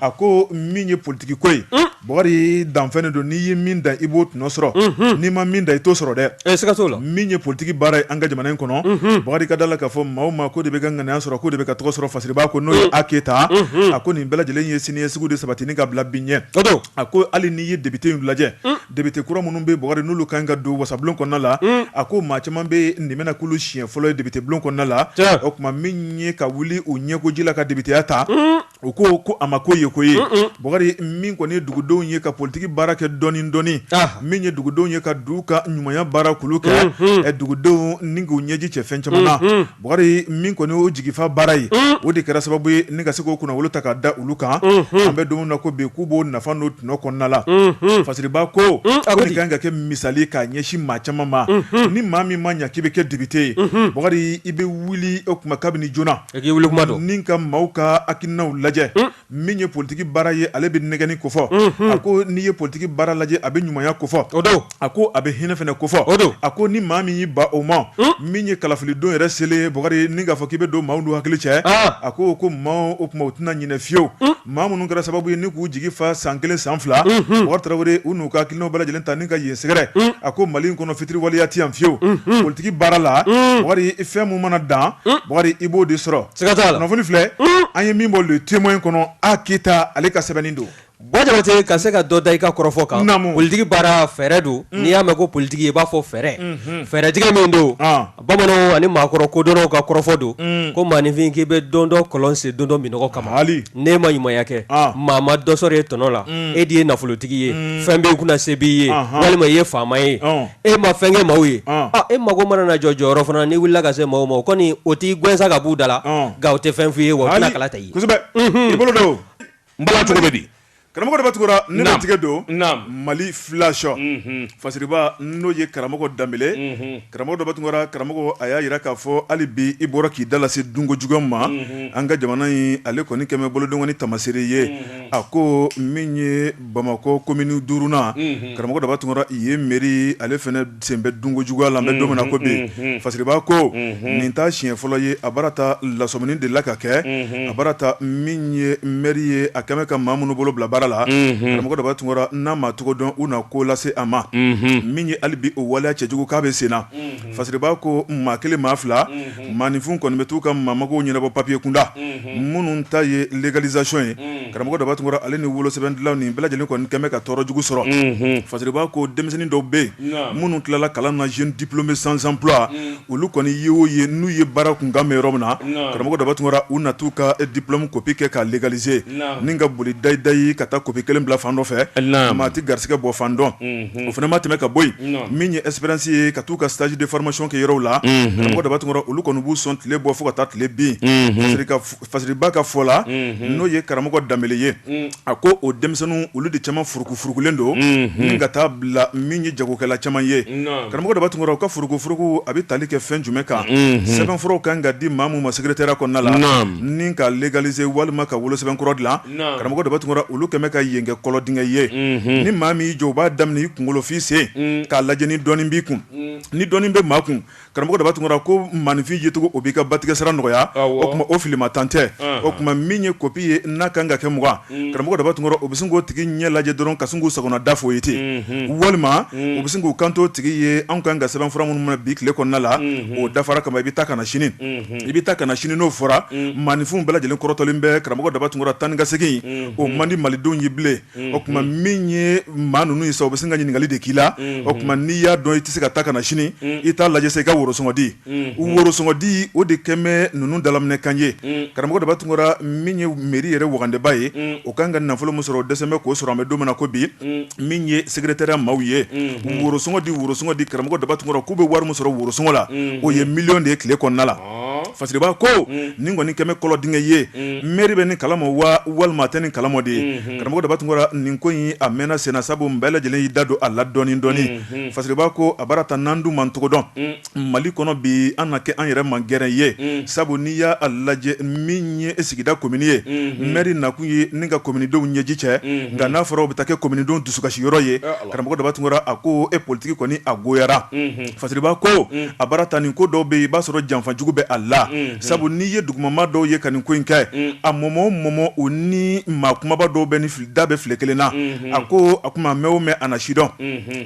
a ko min ye politigi ko ye bokari danfɛn don n'i ye min dan i b'o tɔnɔ sɔrɔ n'i ma min dan i t'o sɔrɔ dɛ siga t'o la min ye politigi baara ye an ka jamana in kɔnɔ bokari ka da la k'a fɔ maa o maa k'o de bɛ ka ŋanaya sɔrɔ k'o de bɛ ka tɔgɔ sɔrɔ fasiriba ko n'o ye a keyita a ko nin bɛɛ lajɛlen ye siniɲɛsigi de sabati ni ka bila bi ɲɛ a ko hali n'i ye debite in lajɛ debite kura minnu bɛ bokari n'olu kan ka don wasabulon kɔnɔna la a ko maa caman bɛ nin bɛna k'olu siɲɛ fɔlɔ ye debite bulon kɔnɔna la o tuma min ye ka wuli u ɲɛkoji la ka debiteya ta U ko ko a ma ko ye ko ye bokari min kɔni ye dugudenw ye ka politigi baara kɛ dɔɔni dɔɔni min ye dugudenw ye ka du ka ɲumanya baara kulu kɛ ɛ dugudenw ni k'u ɲɛji cɛ fɛn caman na bokari min kɔni o jigifa baara ye o de kɛra sababu ye ni ka se k'o kunnawolo ta ka da olu kan an bɛ don min na ko bi k'u b'o nafa n'o tɔnɔ kɔnɔna la fasiriba ko a kan ka kɛ misali k'a ɲɛsin maa caman ma ni maa min ma ɲa k'i bɛ kɛ debite ye bokari i bɛ wuli o tuma kabini joona Ni ka maaw ka hakilinaw lajɛ min ye politigi baara ye ale bɛ nɛgɛni kofɔ a ko n'i ye politigi baara lajɛ a bɛ ɲumanya kofɔ o don a ko a bɛ hinɛ fɛnɛ kofɔ o a ko ni maa min y'i ban o ma min ye kalafilidon yɛrɛ selen bokari ni k'a fɔ k'i bɛ don maaw n'u hakili cɛ a ko ko maaw o tuma u tɛna ɲinɛ fiyewu Maa minnu kɛra sababu ye ni k'u jigi fa san kelen san fila bokari tarawele u n'u ka hakilinaw bɛɛ lajɛlen ta ni ka yen sɛgɛrɛ a ko mali in kɔnɔ fitiriwaleya ti yan fiyewu politigi baara la bokari fɛn min mana dan bokari i b'o de sɔrɔ kunnafoni filɛ an ye min bɔ le témoin kɔnɔ a keyita ale ka sɛbɛnni don ba jabatɛ ka se ka dɔ da i ka kɔrɔfɔ kan politigi baara fɛɛrɛ don n'i y'a mɛn ko politigi i b'a fɔ fɛɛrɛ fɛɛrɛtigɛ min don Bamananw ani maakɔrɔ kodɔnnaw ka kɔrɔfɔ don ko maaninfin k'i bɛ don dɔ kɔlɔn sen don dɔ minnɔgɔ kama n'e ma ɲumanya kɛ maa ma dɔ sɔrɔ e tɔnɔ la e de ye nafolotigi ye fɛn b'i kunna se b'i ye walima i ye faama ye e ma fɛn kɛ maaw ye e mago mana na jɔ jɔyɔrɔ fana n'i wulila ka se maaw ma o kɔni o t'i gɛn sa ka b'u da la nka o tɛ fɛn f'i ye wa o tɛna kala ta i ye i bolo don n bala cogo bɛ di karamɔgɔ daba tunkara ne na tigɛ don mali flash fasiriba n'o ye karamɔgɔ danbele karamɔgɔ daba tunkara karamɔgɔ a y'a jira k'a fɔ hali bi i bɔra k'i da lase dunko juguya ma an ka jamana in ale kɔni kɛmɛ bolonkɔni tamasere ye a ko min ye bamakɔ komini duurunan karamɔgɔ daba tunkara i ye mɛri ale fana Sen bɛ dunko juguya la an bɛ don min na ko bi fasiriba ko nin t'a siɲɛ fɔlɔ ye a baara ta lasɔmini de la ka kɛ a baara ta min ye mɛri ye a kɛmɛ ka maa minnu bolo bila baara la karamɔgɔ daba tunkara n'a ma tɔgɔ dɔn u na ko lase a ma min ye hali bi o waleya cɛjugu k'a bɛ senna fasiriba ko maa kelen maa fila Maaninfin kɔni bɛ taa u ka maa magow ɲɛnabɔ papiye kunda minnu ta ye légalisation ye karamɔgɔ daba tunkara ale ni wolosɛbɛn dilan nin bɛɛ lajɛlen kɔni kɛmɛ ka tɔɔrɔ jugu sɔrɔ fasiriba ko denmisɛnnin dɔw bɛ yen minnu tilala kalan na jeunes diplômés sans emploi olu kɔni ye o ye n'u ye baara kunkan mɛn yɔrɔ min na karamɔgɔ daba tunkara u na t'u ka diplôme kopi kɛ k'a légaliser ni ka boli dayidayi ka taa kopi kelen bila fan dɔ fɛ maa t'i garisɛgɛ bɔ fan dɔn o fana ma tɛmɛ ka bɔ yen min ye espérance ye ka taa u ka stage de formation kɛ yɔrɔw la karamɔgɔ daba tunkara olu kɔni b'u sɔn tile bɔ fo ka taa tile bin fasiriba ka fɔ la n'o ye karamɔgɔ danbele ye a ko o denmisɛnnin olu de caman furukufurukulen don ni ka taa bila min ye jagokɛla caman ye karamɔgɔ daba tunkara u ka furukufuruku a bɛ tali kɛ fɛn jumɛn kan sɛbɛnfuraw kan ka di maa min ma secrétariat kɔnɔna la ni ka légaliser walima ka wolosɛbɛn kɔrɔ dilan karamɔgɔ daba tunkara olu kɛmɛ ka yen kɛ kɔlɔn dingɛ ye ni maa min y'i jɔ u b'a daminɛ i kunkolo f'i sen k'a lajɛ ni dɔɔnin b'i kun ni dɔɔnin bɛ maa kun karamɔgɔ daba tunkara ko maaninfin yecogo o b'i ka batigɛ sara nɔgɔya o tuma o fili ma tan tɛ o tuma min ye kopi ye n'a kan ka kɛ mugan karamɔgɔ daba tunkara o bɛ sin k'o tigi ɲɛ lajɛ dɔrɔn ka sin k'u sagona da fɔ i ye ten walima u bɛ sin k'u kanto tigi ye anw kan ka sɛbɛnfura minnu minɛ bi tile kɔnɔna la o dafara kama i bɛ taa ka na sini i bɛ taa ka na sini n'o fɔra maaninfin bɛɛ lajɛlen kɔrɔtɔlen bɛ karamɔgɔ daba tunkara taa ni ka segin o man di malidenw ye bilen o tuma min ye maa ninnu ye sa u bɛ sin ka ɲininkali de k'i la o tuma n'i y'a dɔn i tɛ se ka taa ka na sini i t'a lajɛ sa i ka worosɔngɔ di worosɔngɔ di o de kɛlen bɛ ninnu dalakan ye karamɔgɔ daba tunkara min ye mairie yɛrɛ wagandeba ye o ka kan ka nafolo min sɔrɔ o dɛsɛ bɛ k'o sɔrɔ an bɛ don min na ko bi min ye secrétariat maaw ye worosɔngɔ di worosɔngɔ di karamɔgɔ daba tunkara k'u bɛ wari min sɔrɔ worosɔngɔ la o ye miliyɔn de ye tile kɔnɔna la fasiriba ko nin kɔni kɛmɛ kɔlɔn dingɛ ye mairie bɛ nin kalama wa walima tɛ nin kalama de ye karamɔgɔ daba tunkara nin ko in a mɛnna senna sabu bɛɛ lajɛlen y'i da don a la dɔɔnin dɔɔnin fasiriba ko a baara ta n'an dun ma cogo dɔn Mali kɔnɔ bi an na kɛ an yɛrɛ man gɛrɛ ye mm. sabu n'i y'a lajɛ min ye e sigida komini ye mm-hmm. mairie nakun ye ni ka kominidenw ɲɛji cɛ mm-hmm. nka n'a fɔra o bɛ taa kɛ kominidenw dusukasi yɔrɔ ye karamɔgɔ daba tunkara a ko e politiki kɔni a goyara mm-hmm. fasiriba ko mm. a baara ta nin ko dɔw bɛ yen i b'a sɔrɔ janfajugu bɛ a la sabu n'i ye dugumamaa dɔw ye ka nin ko in kɛ mm. a mɔmɔ mɔmɔ u ni maa kumaba dɔw bɛ ni da bɛ filen kelen na a ko a kuma mɛn o mɛn a na sidɔn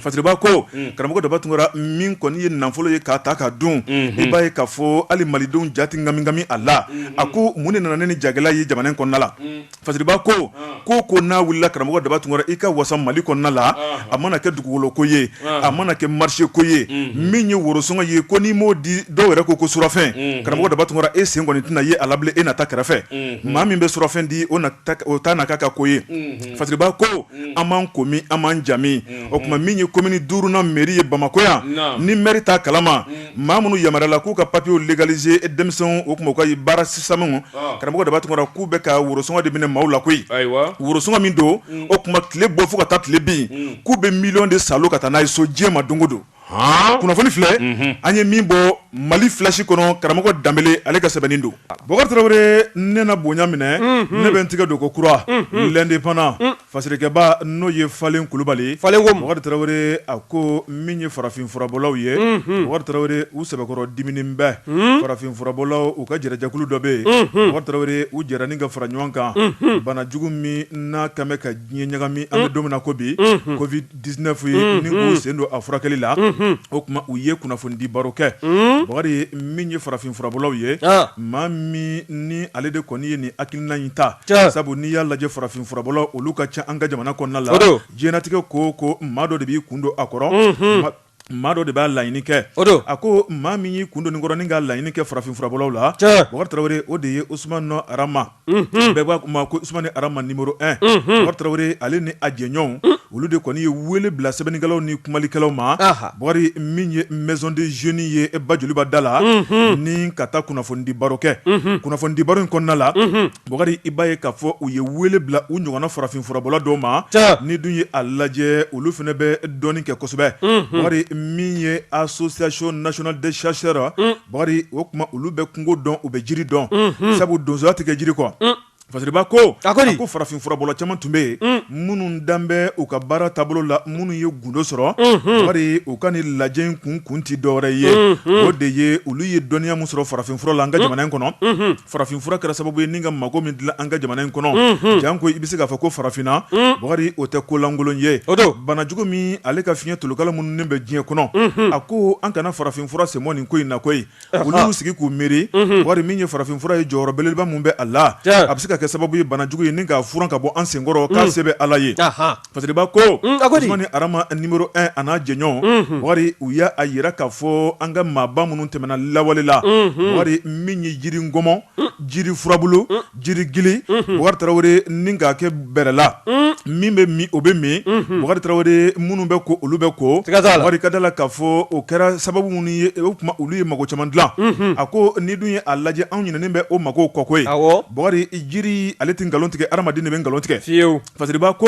Fasiriba ko karamɔgɔ daba tunkara min kɔni ye nafolo ye k'a ta k'a dun i b'a ye k'a fɔ hali malidenw ja tɛ kamikami a la a ko mun de nana ni jagɛlɛya ye jamana kɔnɔna la fasiriba ko ko ko n'a wulila karamɔgɔ daba tunkara i ka wasa mali kɔnɔna la a mana kɛ dugukolo ko ye a mana kɛ marché ko ye min ye worosɔngɔ ye ko n'i m'o di dɔw yɛrɛ ko ko surafɛn karamɔgɔ daba tunkara e sen kɔni tɛna ye a la bilen e na ta kɛrɛfɛ maa min bɛ surafɛn di o o taa na k'a ka ko ye fasiriba ko an m'an komi an m'an jamu o tuma min ye komini duurunan mɛri ye bamakɔ yan ni mɛri t'a kalama maa minnu yamaruyala k'u ka papiyew legalize denmisɛn o tuma u ka baara sisanmu karamɔgɔ daba tunkara k'u bɛ ka worosɔngɔ de minɛ maaw la koyi worosɔngɔ min don o tuma tile bɔ fo ka taa tile bin k'u bɛ miliyɔn de salo ka taa n'a ye so diɲɛ ma don o don kunnafoni filɛ an ye min bɔ mali filasi kɔnɔ karamɔgɔ danbele ale ka sɛbɛnni don bakari tarawele ne na bonya minɛ ne bɛ n tɛgɛ don ko kura l'indépendant fasirikɛba n'o ye falen kulubali bakari tarawele a ko min ye farafin furabɔlaw ye bakari tarawele u sɛbɛkɔrɔ diminen bɛ farafin furabɔlaw u ka jɛrɛjɛkulu dɔ bɛ yen bakari tarawele u jɛra ni ka fara ɲɔgɔn kan banajugu min n'a kan bɛ ka diɲɛ ɲagami an bɛ don min na ko bi ko 19 ye ni k'u sen don a furakɛli la o tuma u ye kunnafonidi baro kɛ bakari min ye farafin furabɔlaw ye maa min ni ale de kɔni ye nin hakilina in ta sabu n'i y'a lajɛ farafin furabɔlaw olu ka ca an ka jamana kɔnɔna la diɲɛnatigɛ ko ko maa dɔ de b'i kun don a kɔrɔ maa dɔ de b'a laɲini kɛ a ko maa min y'i kun don nin kɔrɔ ni k'a laɲini kɛ farafin furabɔlaw la bakari tarawele o de ye usmani nɔ arama bɛɛ b'a ma ko usmani arama nimɔrɔ 1 bakari tarawele ale ni a jɛɲɔgɔnw olu de kɔni ye wele bila sɛbɛnnikɛlaw ni kumalikɛlaw ma bakari min ye maison des jeunes ye ba joliba da la ni ka taa kunnafonidi baro kɛ kunnafonidi baro in kɔnɔna la Bakari i b'a ye k'a fɔ u ye wele bila u ɲɔgɔnna farafin furabɔla dɔw ma n'i dun ye a lajɛ olu fana bɛ dɔnni kɛ kosɛbɛ bakari min ye association nationale des chasseurs bakari o tuma olu bɛ kungo dɔn u bɛ jiri dɔn sabu donsoya tɛ kɛ jiri kɔ fasiriba ko a ko farafin furabɔla caman tun bɛ yen minnu dan bɛ u ka baara taabolo la minnu ye gundo sɔrɔ bakari u ka nin lajɛ in kun kun tɛ dɔwɛrɛ ye o de ye olu ye dɔnniya min sɔrɔ farafin fura la an ka jamana in kɔnɔ Farafin fura kɛra sababu ye ni ka mago min dilan an ka jamana in kɔnɔ janko i bɛ se k'a fɔ ko farafinna bakari o tɛ ko lankolon ye o banajugu min ale ka fiɲɛ tolokala minnu bɛ diɲɛ kɔnɔ a ko an kana farafin fura sen bɔ nin ko in na koyi olu sigi k'u miiri bakari min ye farafin fura ye jɔyɔrɔ belebeleba min bɛ a la a bɛ se ka kɛ sababu ye banajugu ye ni k'a furan ka bɔ an senkɔrɔ k'a se bɛ ala ye Fasiriba ko arama nimɔrɔ 1 a n'a jɛɲɔgɔn bakari u y'a jira k'a fɔ an ka maaba minnu tɛmɛna lawale la bakari min ye jiri ngɔmɔ jiri furabulu jiri gili bakari tarawele ni k'a kɛ bɛrɛla min bɛ min o bɛ min bakari tarawele minnu bɛ ko olu bɛ ko bakari ka da la k'a fɔ o kɛra sababu minnu ye o tuma olu ye mako caman dilan a ko n'i dun ye a lajɛ anw ɲinɛnen bɛ o mako kɔ koyi bakari jiri ale tɛ nkalon tigɛ hadamaden de bɛ nkalon tigɛ Fasiriba ko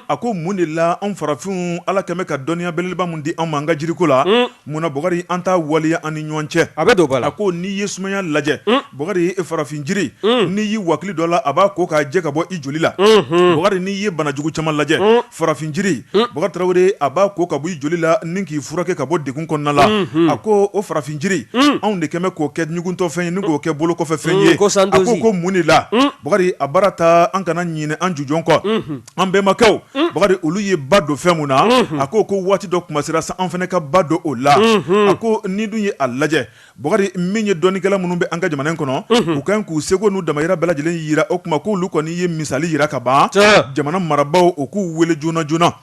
a ko mun de la an farafinw ala kɛmɛ ka dɔnniya belebeleba min di an ma an ka jiriko la munna bɔkari an t'a waleya an ni ɲɔgɔn cɛ a bɛ don b'a la ko n'i ye sumaya lajɛ bɔkari farafin jiri n'i y'i wakili dɔ la a b'a ko k'a jɛ ka bɔ i joli la bɔkari n'i ye banajugu caman lajɛ farafin jiri Bɔkari tarawele a b'a ko ka bɔ i joli la ni k'i furakɛ ka bɔ degun kɔnɔna la a ko o farafin jiri anw de kɛmɛ k'o kɛ ɲuguntɔfɛn ye ni k'o kɛ bolo kɔfɛfɛn ye a ko ko mun de la bakari a baara ta an kana ɲinɛ an jujɔn kɔ an bɛnbakɛw bakari olu ye ba don fɛn min na a ko ko waati dɔ kuma sera sa an fana ka ba don o la a ko n'i dun ye a lajɛ Bakari min ye dɔnnikɛla minnu bɛ an ka jamana in kɔnɔ u kan k'u seko n'u damayira bɛɛ lajɛlen yira o kuma k'olu kɔni ye misali yira ka ban jamana marabaw o k'u weele joona joonana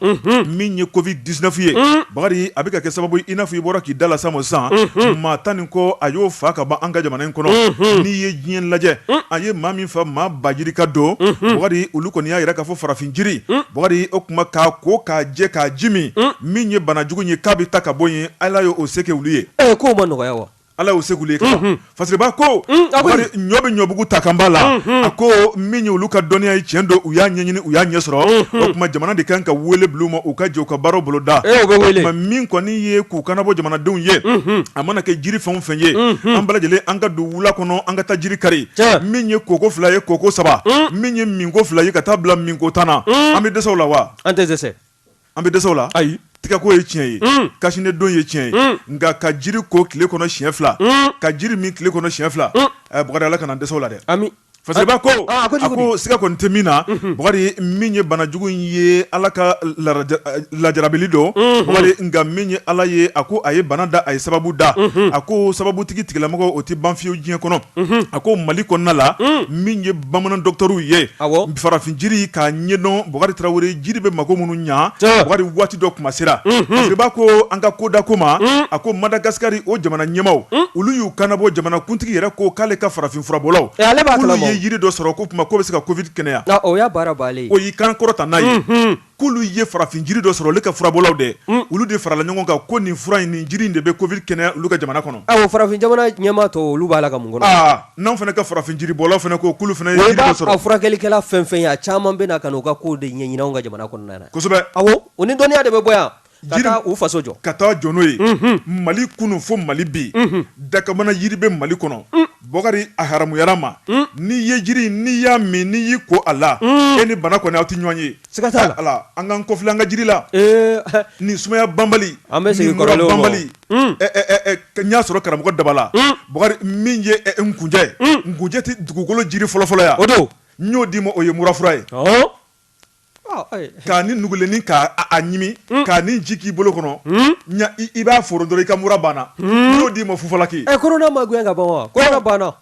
min ye covid dix-neuf ye bakari a bɛ ka kɛ sababu i n'a fɔ i bɔra k'i da lase a ma sisan maa tan ni kɔ a y'o faa ka ban an ka jamana in kɔnɔ n'i ye diɲɛ lajɛ a ye maa min faa maa ba yirika don bakari olu kɔni y'a yira k'a fɔ farafin jiri bakari o kuma k'a ko k'a jɛ k'a ji min min ye banajugu ye k'a bɛ ta ka bɔ yen Ala y'o se k'olu ye ɛ k'o ma nɔgɔya wa ala y'o se k'olu ye fasiriba ko ɲɔ bɛ ɲɔbugu ta kan b'a la a ko min ye olu ka dɔnniya ye tiɲɛ don u y'a ɲɛɲini u y'a ɲɛ sɔrɔ o kuma jamana de kan ka weele bila u ma u ka jɛ u ka baaraw boloda min kɔni ye k'u kan nabɔ jamanadenw ye a mana kɛ jiri fɛn fɛn ye an bɛɛ lajɛlen an ka don wula kɔnɔ an ka taa jiri kari min ye koko fila ye koko saba min ye minko fila ye ka taa bila minko tan na an bɛ dɛsɛ o la wa an tɛ An bɛ dɛsɛ o la ayi tɛgɛko ye tiɲɛ ye cache-nez don ye tiɲɛ ye nka ka jiri ko tile kɔnɔ siɲɛ fila ka jiri min tile kɔnɔ siɲɛ fila bakari ala kana dɛsɛ o la dɛ fasiriba ko siga kɔni tɛ min na bakari min ye banajugu in ye ala ka lajarabili don bakari nka min ye ala ye a ko a ye bana da a ye sababu da a ko sababutigi tigilamɔgɔ o tɛ ban fiyewu diɲɛ kɔnɔ a ko mali kɔnɔna la bamanan dɔgɔtɔrɔw ye farafin jiri k'a ɲɛdɔn bakari tarawele jiri bɛ mako minnu ɲɛ bɔkari waati dɔ kuma sera fasiriba ko an ka ko da ko ma a ko madagasikari o jamana ɲɛmaaw olu y'u kan nabɔ jamanakuntigi yɛrɛ ko k'ale ka farafin furabɔlaw k'u ye jiri dɔ sɔrɔ ko kuma k'o bɛ se ka covid kɛnɛya o y'a baara o y'i kan kɔrɔta n'a ye k'olu ye farafin jiri dɔ sɔrɔ olu ka furabɔlaw dɛ mm. olu de farala ɲɔgɔn kan ko nin fura in nin jiri in de bɛ covid kɛnɛya olu ka jamana kɔnɔ awɔ farafin jamana ɲɛmaa tɔ olu b'a la ka mun kɔnɔ aa n'anw fana ka farafin jiri bɔlaw fana ko k'olu fana ye jiri dɔ sɔrɔ a furakɛlikɛla fɛn fɛn ye a caman bɛ na ka n'u ka kow de ɲɛɲini anw ka jamana kɔnɔna na kosɛbɛ awɔ o ni dɔnniya de bɛ bɔ yan u faso jɔ ka taa jɔ n'o ye mali kunun fo mali bi dakabana jiri bɛ mali kɔnɔ bɔkari a haramuyara ma n'i ye jiri n'i y'a min n'i y'i ko a la e ni bana kɔni aw tɛ ɲɔgɔn ye siga t'a la an k'an kɔfilɛ an ka jiri la ni sumaya banbali an bɛ segin bali y'a sɔrɔ karamɔgɔ dabala bɔkari min ye nkunjɛ nkunjɛ tɛ dugukolo jiri fɔlɔfɔlɔ ye o don n y'o d'i ma o ye murafura ye k'a ni nugulennin k'a ɲimi k'a ni ji k'i bolo kɔnɔ i b'a foro dɔrɔn i ka mura banna n y'o d'i ma fufalaki ɛ korona ma gɛn ka ban wa korona banna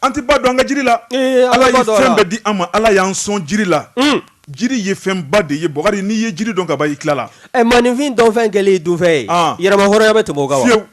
an tɛ ba don an ka jiri la ee Ala ye fɛn bɛɛ di an ma Ala y'an sɔn jiri la jiri ye fɛnba de ye Bukari n'i ye jiri dɔn ka ban i tilala ɛ maaninfin dɔnfɛn kɛlen dunfɛn ye yɛrɛmahɔrɔnya bɛ tɛmɛ o kan wa fiyewu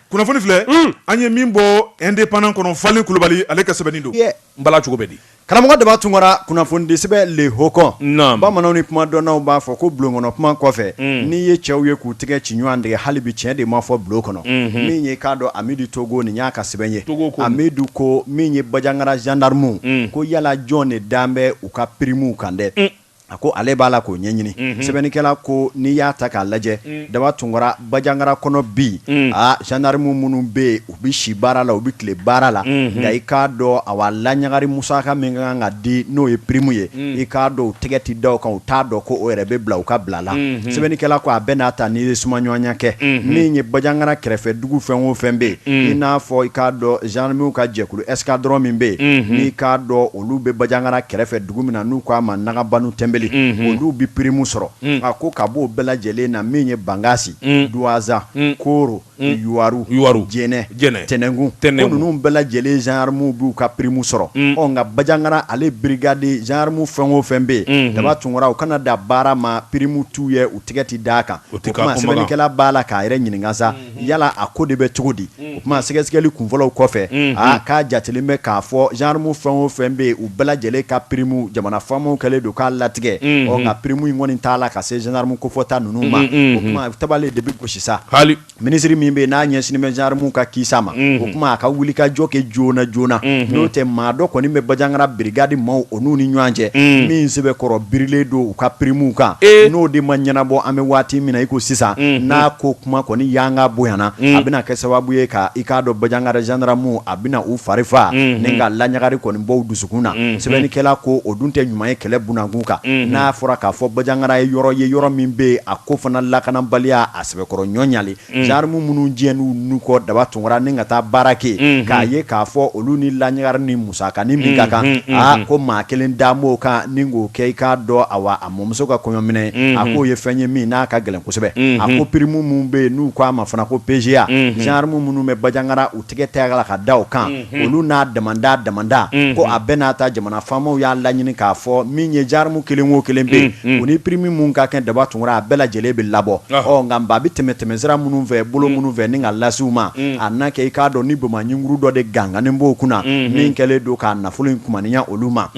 kunnafoni filɛ an ye min bɔ indépendant kɔnɔ Falen Kulubali ale ka sɛbɛnni don n bala cogo bɛ di. Karamɔgɔ Daba Tunkara kunnafonidisɛbɛn Le Hogon bamananw ni kumadɔnnaw b'a fɔ ko bulon kɔnɔ kuma kɔfɛ n'i ye cɛw ye k'u tɛgɛ ci ɲɔgɔn tɛgɛ hali bi tiɲɛ de ma fɔ bulon kɔnɔ min ye k'a dɔn Amidu Togo nin y'a ka sɛbɛn ye Amidu ko min ye Bajangara zandaramuw ko yala jɔn de dan bɛ u ka pirimu kan dɛ A ko ale b'a la k'o ɲɛɲini sɛbɛnnikɛla ko n'i y'a ta k'a lajɛ Daba Tunkara Bajangara kɔnɔ bi aa zandaramu minnu bɛ yen u bɛ si baara la u bɛ tile baara la nka i k'a dɔn a wa laɲagari musaka min kan ka di n'o ye pirimu ye i k'a dɔn u tɛgɛ tɛ d'a kan u t'a dɔn ko o yɛrɛ bɛ bila u ka bila la sɛbɛnnikɛla ko a bɛɛ n'a ta n'i ye sumaɲɔgɔnya kɛ min ye Bajangara kɛrɛfɛ dugu fɛn o fɛn bɛ yen i n'a fɔ i k'a dɔn zandaramuw ka jɛkulu ɛsikadɔrɔn min bɛ yen n'i k'a dɔn olu bɛ Bajangara kɛrɛfɛ dugu min na n'u k'a ma Nagabanu Tɛnbeli olu bɛ pirimu sɔrɔ a ko ka b'o bɛɛ lajɛlen na min ye Bangasi Duwanza Koro Yuwaru Jɛnɛ Jɛnɛ Tɛnɛnkun ko ninnu bɛɛ lajɛlen zandaramuw b'u ka pirimu sɔrɔ ɔ nka Bajangara ale birigadi zandaramu fɛn o fɛn bɛ yen Daba Tunkara u kana da baara ma pirimu t'u ye u tigɛ tɛ d'a kan o tuma sɛbɛnnikɛla b'a la k'a yɛrɛ ɲininka sa yala a ko de bɛ cogo di o tuma sɛgɛsɛgɛli kunfɔlɔw kɔfɛ k'a jatelen bɛ k'a fɔ zandaramu fɛn o fɛn bɛ yen u bɛɛ lajɛlen ka pirimu jamana faamaw kɛlen don k'a latigɛ ɔ nka pirimu in kɔni t'a la ka se zandaramu kofɔta ninnu ma o tuma tabale de bɛ gosi sa hali minisiri min bɛ yen n'a ɲɛsinnen bɛ zandaramuw ka kisa ma o tuma a ka wuli ka jɔ kɛ joona joonana n'o tɛ maa dɔ kɔni bɛ Bajangara birigadi maaw n'u ni ɲɔgɔn cɛ min sɛbɛkɔrɔ birilen don u ka pirimu kan n'o de ma ɲɛnabɔ an bɛ waati min na i ko sisan n'a ko kuma kɔni yanga bonyana a bɛna kɛ sababu ye ka i k'a dɔn Bajangara zandaramuw a bɛna u fari fa ni ka laɲagari kɔni bɔ u dusukun na sɛbɛnnikɛla ko o dun tɛ ɲuman ye kɛlɛ bunakun kan n'a fɔra k'a fɔ Bajangara ye yɔrɔ ye yɔrɔ min bɛ yen a ko fana lakanabaliya a sɛbɛkɔrɔ ɲɔnɲali zandaramu minnu diɲɛn'u ni kɔ Daba Tunkara ni ka taa baara kɛ k'a ye k'a fɔ olu ni laɲagari ni musakanin min ka kan aa ko maa kelen dan b'o kan ni k'o kɛ i k'a dɔn a wa a mɔmuso ka kɔɲɔminɛn a k'o ye fɛn ye min n'a ka gɛlɛn kosɛbɛ a ko pirimu minnu bɛ yen n'u k'a ma fana ko PGA zandaramu minnu bɛ Bajangara u tɛgɛ t'a la ka da o kan olu n'a dama da damada ko a bɛɛ n'a ta jamana faamaw y'a laɲini k'a fɔ min ye zandaramu kelen o kelen bɛ yen u ni pirimu minnu ka kan Daba Tunkara a bɛɛ lajɛlen bɛ labɔ ɔ nka a bɛ tɛmɛ tɛmɛ sira minnu fɛ bolo minnu fɛ ni k'a lase u ma a na kɛ i k'a dɔn ni bamakɔugu dɔ de gangannen b'o kunna min kɛlen don k'a nafolo in kumaniya olu ma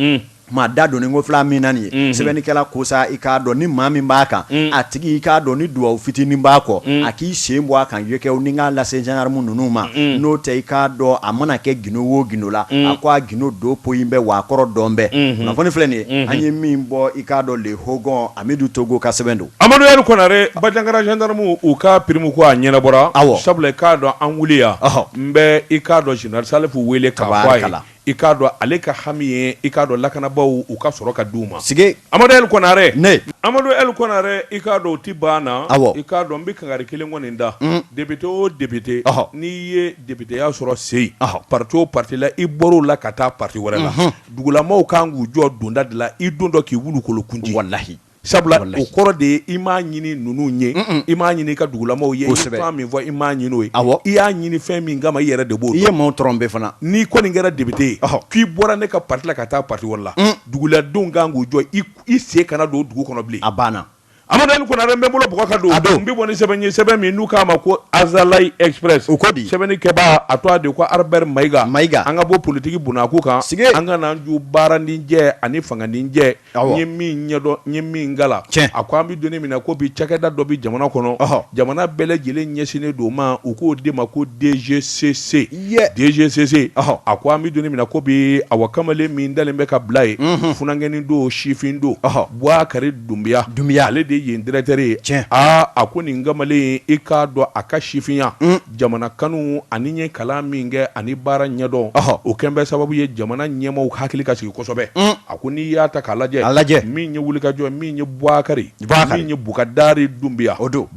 Maa da don ko fila min na nin ye sɛbɛnnikɛla ko sa i k'a dɔn ni maa min b'a kan a tigi i k'a dɔn ni duwa fitinin b'a kɔ a k'i sen bɔ a kan yekɛ ni k'a lase gendarme ninnu ma n'o tɛ i k'a dɔn a mana kɛ gundo o gundo la a ko a gundo don poyi bɛ wa a kɔrɔ dɔn bɛɛ kunnafoni filɛ nin ye an ye min bɔ i k'a dɔn Le Hogon amidu togo ka sɛbɛn don amadu el kɔnare banjagara gendarme u ka prime ko a ɲɛnabɔra aw sabula i k'a dɔn an wuli yan bɛ i k'a dɔn général salifu weele ka la i k'a dɔn ale ka hami ye i k'a dɔn lakanabaaw u ka sɔrɔ ka di u ma sigi amadu el kɔnare ne amadu el kɔnare i k'a dɔn o tɛ ban na awɔ i k'a dɔn n bɛ kangari kelen kɔni da député o député n'i ye députéya sɔrɔ seyi parti o parti la i bɔr'o la ka taa parti wɛrɛ la dugulamaaw kan k'u jɔ donda de la i dontɔ k'i wulukolokun ci walahi Sabula o kɔrɔ de ye i m'a ɲini ninnu ye i m'a ɲini i ka dugulamaaw ye fɛn min fɔ i m'a ɲini o ye i y'a ɲini fɛn min kama i yɛrɛ de b'o dɔn i ye maaw tromper fana n'i kɔni kɛra député ye k'i bɔra ne ka parti la ka taa parti wɛrɛ la duguladenw kan k'u jɔ i sen kana don dugu kɔnɔ bilen a banna amadu el kɔnare bɛ bolo bɔ k'a don n bɛ bɔ ni sɛbɛn ye sɛbɛn min n'u k'a ma ko Azalaï Express o ko di sɛbɛnnikɛbaa tɔgɔ de ko Albert mayiga mayiga an ka bɔ politigi bunaki kan sigi an ka n'an ju baara nin jɛ ani fanga nin jɛ ye min ɲɛdɔn n ye min kalan cɛ a ko an bɛ don min na ko bi cakɛda dɔ bɛ jamana kɔnɔ jamana bɛɛ lajɛlen ɲɛsinnen don ma u k'o de ma ko DGCC DGCC a ko an bɛ don min na ko bi a wa kamalen min talen bɛ ka bila yen funankɛnin don sifin don buwakari dunbiya dunbiya ale de yen directeur ye tiɲɛ aaa a ko nin kamalen i k'a dɔn a ka sifinya jamana kanu ani a ye kalan min kɛ ani baara ɲɛdɔn o kɛlen bɛ sababu ye jamana ɲɛmaaw hakili ka sigi kosɛbɛ a ko n'i y'a ta k'a lajɛ a lajɛ min ye wulikajɔ min ye buwakari min ye bukadari dunbiya o don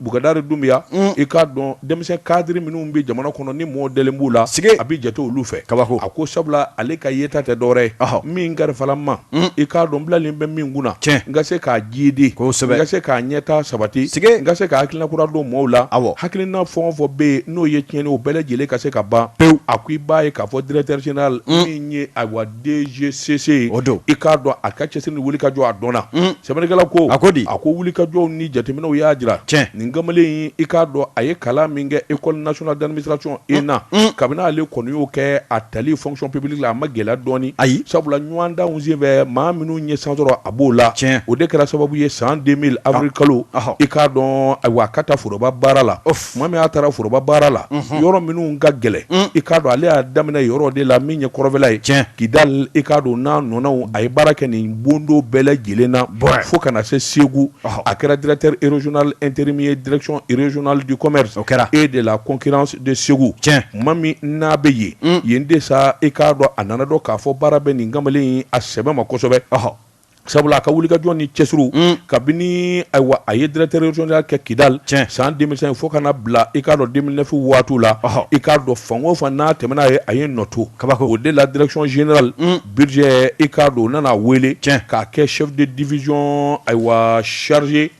bukadari dunbiya i k'a dɔn denmisɛn cadre minnu bɛ jamana kɔnɔ ni mɔɔ dalen b'u la sigi a bɛ jate olu fɛ kabako a ko sabula ale ka yeta tɛ dɔwɛrɛ ye min karifala a ma i k'a dɔn bilalen bɛ min kunna cɛ n ka se k'a jiidi kosɛbɛ ka se k'a ɲɛtaa sabati n ka se ka hakilina kura don maaw la a hakilina fɛn o fɛn bɛ yen n'o ye tiɲɛni o bɛɛ lajɛlen ka se ka ban pewu a ko i b'a ye k'a fɔ directeur général min ye ayiwa DGCC o don i k'a dɔn a ka cɛsiri ni wulikajɔ a dɔnna sɛbɛnnikɛla ko a ko di a ko wulikajɔw ni jateminɛw y'a jira cɛ nin kamalen i k'a dɔn a ye kalan min kɛ école nationale d'administration ENA kabini ale kɔni y'o kɛ a tali fonction publique la a ma gɛlɛya dɔɔnin ayi sabula ɲɔgɔndan senfɛ maa minnu ye chance sɔrɔ a b'o la tiɲɛ o de kɛra sababu ye san deux mille avril ah. kalo ah. i k'a dɔn ayiwa a ka taa foroba baara la tuma min a taara foroba baara la mhm. yɔrɔ minnu ka gɛlɛn mm. i k'a dɔn ale y'a daminɛ yɔrɔ de la min ye kɔrɔfɛla ye tiɲɛ kidal i k'a dɔn n'a ɲɔgɔnnaw a ye baara kɛ nin bondo bɛɛ lajɛlen na fo ka na se segu ah. a kɛra directeur régional intérim ye direction régionale du commerce et de la concurrence de segu tuma min n'a bɛ ye yen de sa i k'a dɔn a nana dɔn k'a fɔ baara bɛ nin kamalen a sɛbɛ ma kosɛbɛ ahɔ sabula a ka wulikajɔ ni cɛsiri kabini ayiwa a ye directeur régional kɛ kidali cɛ san deux mille cinq fo ka na bila i k'a dɔn deux mille neuf waati la ahɔ i k'a dɔn fan o fan n'a tɛmɛna a ye a ye nɔ to kaba o de la direction générale budget i k'a dɔn u nana wele cɛ k'a kɛ chef de division ayiwa chargé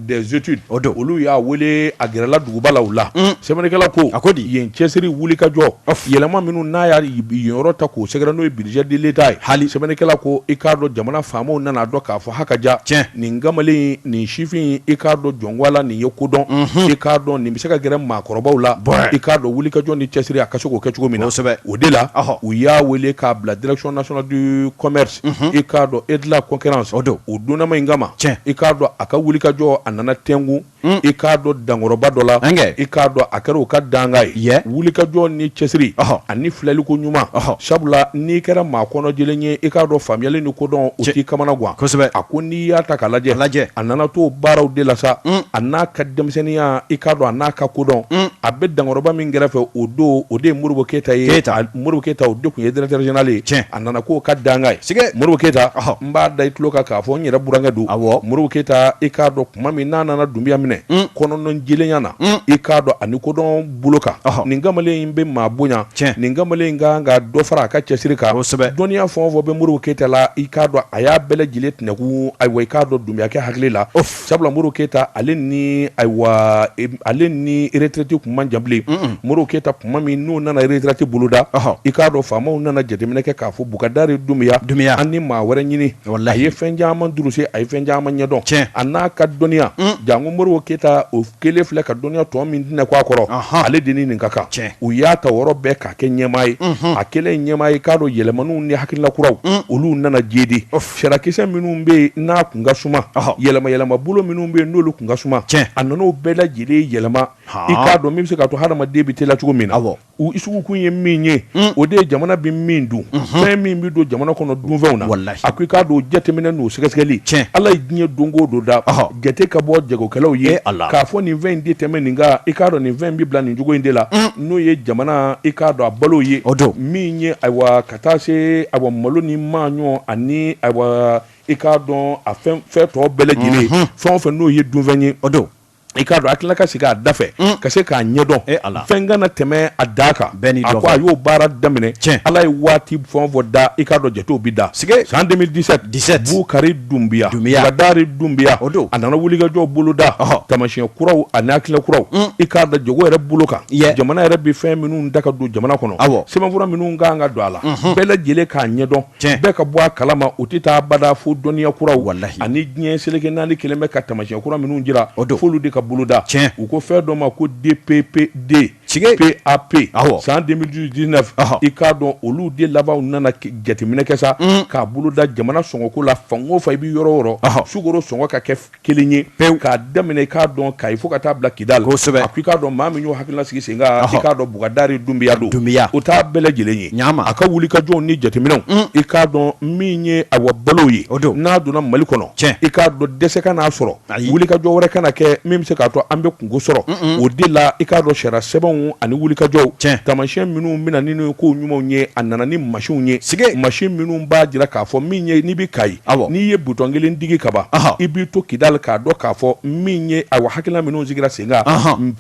Des études o don olu y'a weele a gɛrɛla duguba la o la sɛbɛnnikɛla ko a ko di yen cɛsiri wulikajɔ yɛlɛma minnu n'a y'a yen yɔrɔ ta k'o sɛgɛrɛ n'o ye budget de l'État ye hali sɛbɛnnikɛla ko i k'a dɔn jamana faamaw nana a dɔn k'a fɔ ha ka ja cɛ nin kamalen nin sifin i k'a dɔn jɔnwala nin ye kodɔn i k'a dɔn nin bɛ se ka gɛrɛ maakɔrɔbaw la i k'a dɔn wulikajɔ ni cɛsiri a ka se k'o kɛ cogo min na o de la u y'a weele k'a bila direction nationale du commerce i k'a dɔn et de la concurrence o donnama in kama i k'a dɔn a ka wulikajɔ a nana tɛngun i k'a dɔn dankɔrɔba dɔ la i k'a dɔn a kɛra o ka dankan ye wulikajɔ ni cɛsiri ani filɛliko ɲuman sabula n'i kɛra maa kɔnɔjɛlen ye i k'a dɔn faamuyali ni kodɔn o t'i kamana gan kosɛbɛ a ko n'i y'a ta k'a lajɛ lajɛ a nana to baaraw de la sa a n'a ka denmisɛnninya i k'a dɔn a n'a ka kodɔn a bɛ dankɔrɔba min kɛrɛfɛ o don o de ye modibo keyita ye modibo keyita o de tun ye directeur général ye a nana k'o ka dankan ye sɛgɛ modibo keyita n b'a da i tulo kan k'a fɔ n yɛrɛ burankɛ don a modibo keyita i k'a dɔn tuma min n'a nana dunbiya minɛ kɔnɔnajɛlenya na i k'a dɔn ani kodɔn bolo kan nin kamalen in bɛ maa bonya cɛ nin kamalen in kan ka dɔ fara a ka cɛsiri kan kosɛbɛ dɔnniya fɛn o fɛn bɛ modibo keyita la i k'a dɔn a y'a bɛɛ lajɛlen tɛnɛnkun ayiwa i k'a dɔn dunbiyakɛ hakili la Sabula modibo keyita ale ni ayiwa ale ni retraite tun man jan bilen modibo keyita tuma min n'u nana retraite boloda i k'a dɔn faamaw nana jateminɛ kɛ k'a fɔ bukadari dunbiya dunbiya an ni maa wɛrɛ ɲini o la a ye fɛn caman durusi a ye fɛn caman ɲɛdɔn cɛ a n'a ka dɔnniya janko modibo keyita o kelen filɛ ka dɔnniya tɔ min tɛnɛkun a kɔrɔ ale de ni nin ka kan u y'a ta yɔrɔ bɛɛ k'a kɛ ɲɛmaa ye a kɛlen ɲɛmaa ye k'a dɔn yɛlɛmaniw ni hakilina kuraw olu nana jedi sarakisɛ minnu bɛ yen n'a kun ka suma yɛlɛma yɛlɛma bolo minnu bɛ yen n'olu kun ka suma a nana o bɛɛ lajɛlen yɛlɛma i k'a dɔn min bɛ se k'a to hadamaden bɛ teliya cogo min na U sigikun ye min ye o de ye jamana bɛ min dun fɛn min bɛ don jamana kɔnɔ dunfɛnw na a ko i k'a dɔn o jateminɛ n'o sɛgɛsɛgɛli cɛ ala ye diɲɛ don o don da jate ka bɔ jagokɛlaw ye a la k'a fɔ nin fɛn in tɛ tɛmɛ nin kan i k'a dɔn nin fɛn in bɛ bila nin cogo in de la n'o ye jamana i k'a dɔn a balo ye o don min ye ayiwa ka taa se ayiwa malo ni maaɲɔ ani i k'a dɔn a fɛn fɛn tɔ bɛɛ lajɛlen fɛn o fɛn n'o ye dunfɛn ye o don i k'a dɔn a tilala ka sigi a da fɛ ka se k'a ɲɛdɔn e Ala fɛn kana tɛmɛ a da kan bɛɛ n'i dɔn a ko a y'o baara daminɛ tiɲɛ Ala ye waati fɛn o fɛn da i k'a dɔn jatew bɛ da sike san 2017 17 Bukari Dunbiya Dunbiya Bukadari Dunbiya o don a nana wulikajɔw boloda tamasiyɛn kuraw ani hakilina kuraw i k'a dɔn jago yɛrɛ bolo kan jamana yɛrɛ bɛ fɛn minnu da ka don jamana kɔnɔ awɔ sɛbɛnfura minnu ka kan ka don a la bɛɛ lajɛlen k'a ɲɛdɔn bɛɛ ka bɔ a kala ma u tɛ taa bada fo dɔnniya kuraw ani diɲɛ seleke naani kɛlen bɛ ka tamasiyɛn kura minnu jira o don f'olu de ka boloda tiɲɛ u ko fɛn dɔ ma ko DPPD PAP san 2019 i k'a dɔn olu de labanw nana jateminɛ kɛ sa k'a boloda jamana sɔngɔko la fan o fan i bɛ yɔrɔ o yɔrɔ sukoro sɔngɔ ka kɛ kelen ye pewu k'a daminɛ i k'a dɔn Kayi fo ka taa bila Kidali kosɛbɛ a ko i k'a dɔn maa min y'o hakilina sigi sen kan i k'a dɔn Bukadari Dunbiya don Dunbiya o t'a bɛɛ lajɛlen ye ɲa a ka wulikajɔw ni jateminɛw i k'a dɔn min ye awa balo ye o don n'a donna Mali kɔnɔ cɛ i k'a dɔn dɛsɛ kana sɔrɔ wulikajɔ wɛrɛ kana kɛ min bɛ se k'a to an bɛ kunko sɔrɔ o de la i k'a dɔn sariya sɛbɛnw ani wulikajɔw cɛ tamasiyɛn minnu bɛna na ni ko ɲumanw ye a nana ni masinw ye sike masin minnu b'a jira k'a fɔ min ye n'i bɛ Kayi n'i ye butɔn kelen digi kaban i b'i to Kidali k'a dɔn k'a fɔ min ye awa hakilina minnu sigira sen kan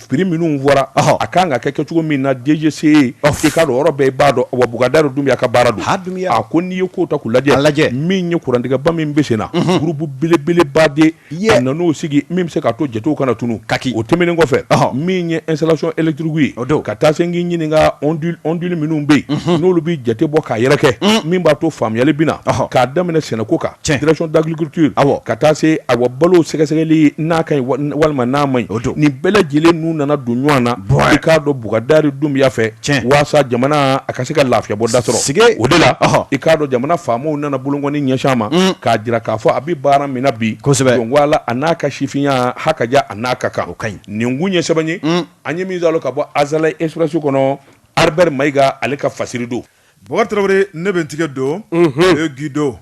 prix minnu fɔra a ka kan ka kɛ kɛcogo min na DGCC i k'a dɔn yɔrɔ bɛɛ i b'a dɔn wa Bukadari Dunbiya ka baara don a ko n'i ye ko ta k'u lajɛ lajɛ min ye kurantigɛba min bɛ sen na groupe belebeleba de a nan'o sigi min bɛ se k'a to jatew kana tunun, kaki, o tɛmɛnen kɔfɛ, ɔhɔ, min ye installation électrique ye, o don, ka taa se n k'i ɲininka ondule ondule minnu bɛ yen, unhun, n'olu bɛ jate bɔ k'a yɛrɛkɛ, un, min b'a to faamuyali bɛ na, ɔhɔ, k'a daminɛ sɛnɛko kan, tiɲɛ, direction d'agriculture, awɔ, ka taa se ayiwa balow sɛgɛsɛgɛli n'a ka ɲi walima n'a man ɲi, o don, nin bɛɛ lajɛlen n'u nana don ɲɔgɔn na, i k'a dɔn Bukadari Dunbiya fɛ, tiɲɛ, waasa jamana a ka se ka lafiya bɔda sɔrɔ, sike, o de la, ɔhɔ, i k'a dɔn jamana faamaw nana bolonkɔni ɲɛsin a ma, un, k'a jira k'a fɔ a bɛ baara min na bi kosɛbɛ jala a n'a ka sifinya ha ka a n'a ka kan ka ɲi nin tun ye sɛbɛn ye an ye min sɔrɔ ka bɔ Azalaï Express kɔnɔ Albert Mayiga ale ka fasiri don Bɔkari Tarawele ne bɛ n tigɛ don Le Guido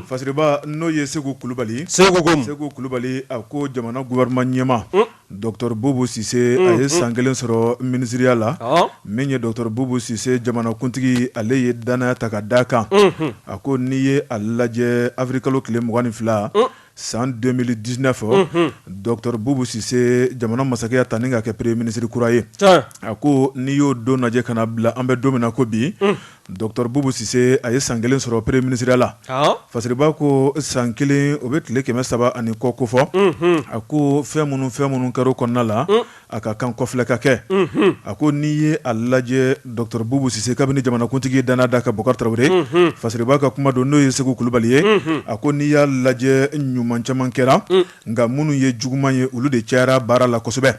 fasiriba n'o ye Seku Kulubali Seku Seku Kulubali a ko jamana gouvernement ɲɛmaa Docteur Bubu Sise a ye san 1 sɔrɔ minisiriya la, ɔnhɔn, min ye docteur Bubu Sise jamanakuntigi ale ye danaya ta ka d'a kan, unhun, a ko n'i ye a lajɛ avril-kalo tile 22 san 2019, unhun, docteur Bubu Sise jamana masakɛ y'a ta ni ka kɛ premier ministre kura ye, tiɲɛ, a ko n'i y'o don lajɛ ka na bila an bɛ don min na ko bi, un Docteur Boubou Cisse a ye san kelen sɔrɔ premier minisiriya la, awɔ, fasiriba ko san kelen o bɛ tile kɛmɛ saba ani kɔ kofɔ, unhun, a ko fɛn minnu ni fɛn minnu kɛra o kɔnɔna la, un, a ka kan kɔfilɛ ka kɛ, unhun, a ko n'i ye a lajɛ docteur Boubou Cisse kabini jamanakuntigi ye danaya d'a kan Bɔkari Tarawele, unhun, fasiriba ka kuma don n'o ye Seku Kulubali ye, unhun, a ko n'i y'a lajɛ ɲuman caman kɛra, un. nka minnu ye juguman ye olu de cayara baara la kosɛbɛ